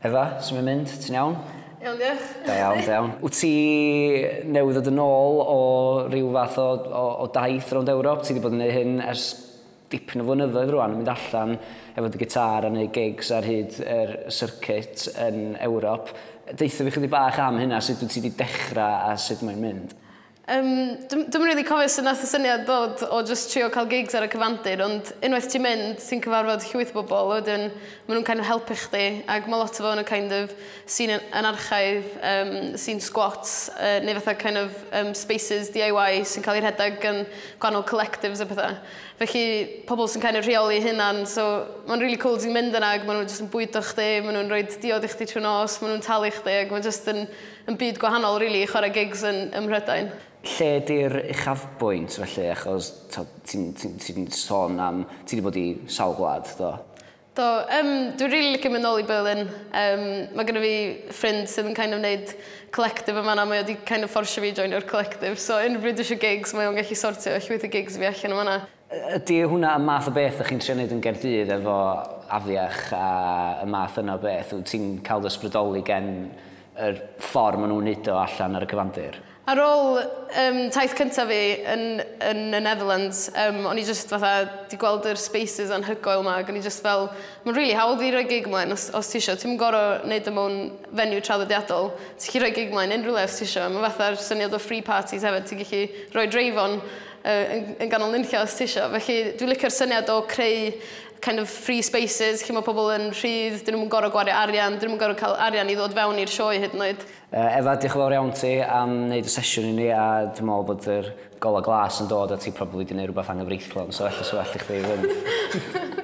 Efa, sut mae'n mynd? Ti'n iawn? Iawn, diolch. Da iawn, da iawn. Wyt ti newydd ddod yn ôl o ryw fath o, o, o daith rownd Ewrop? Ti wedi bod yn gwneud hyn ers dipyn o flynyddoedd rwan, yn mynd allan efo dy gitar a wneud gigs ar hyd yr circuit yn Ewrop. Deutha fi chydig bach am hynna, sut wyt ti wedi dechrau a sut mae'n mynd? Yym, dw- dwi'm yn rili cofio sut nath y syniad ddod o jyst trio cael gigs ar y cyfandir ond unwaith ti'n mynd ti'n cyfarfod llwyth o bobl a wedyn ma' nhw'n kind of helpu chdi ac ma' lot o fo yn y kind of scene yn yn archaidd yym scene squats yy neu fatha kind of yym spaces DIY sy'n cael eu rhedeg gan gwahanol collectives a petha. Felly pobl sy'n kind of rheoli eu hunan so ma'n rili cŵl ti'n mynd yna ag ma' nhw jyst yn bwydo chdi ma' nhw'n rhoid diod i chdi trw'r nos ma' nhw'n talu chdi ag ma' jyst yn Yn byd gwahanol rili i chwarae gigs yn ym Mhrydain. Lle di'r uchafbwynt felly achos t'od ti'n ti'n ti'n sôn am ti 'di bod i sawl gwlad do? Do yym dwi rili licio mynd nôl i Berlin yym ma' gynno fi ffrind sydd yn kind of neud collective yn fan'na mae o 'di kind of fforsio fi i joinio'r collective so unrhyw bryd dwi isio gigs mae o'n gallu sortio llwyth o gigs i fi allan yn fan'na. Ydy hwnna y math o beth dych chi'n trio wneud yn Gaerdydd efo afiach a y math yna o beth? Wyt ti'n cael dy ysbrydoli gen yr ffordd maen nhw'n wneud o allan ar y cyfandir? Ar ôl yym taith cyntaf fi yn yn y Netherlands yym o'n i jyst fatha 'di gweld yr spaces anhygoel 'ma ag o'n i jyst fel ma'n rili hawdd i roi gig mlaen os os tisio ti'm yn gor'o' neud o mewn venue traddodiadol ti 'llu roi gig mlaen unrywle os tisio ma' fatha'r syniad o free parties hefyd ti gellu roi dreif on yn, yn ganol nunllio os ti isio. Felly dwi'n licio'r syniad o creu kind of free spaces lle mae pobl yn rhydd, dyn nhw'n gorau gwario arian, dyn nhw'n gorau cael arian i ddod fewn i'r sioe hyd yn oed. Uh, Efa, diolch yn fawr iawn ti am wneud y sesiwn i ni a dwi'n meddwl bod yr gola glas yn dod a ti probably wedi gwneud rhywbeth anghyfreithlon so ella sy'n well i chdi fynd.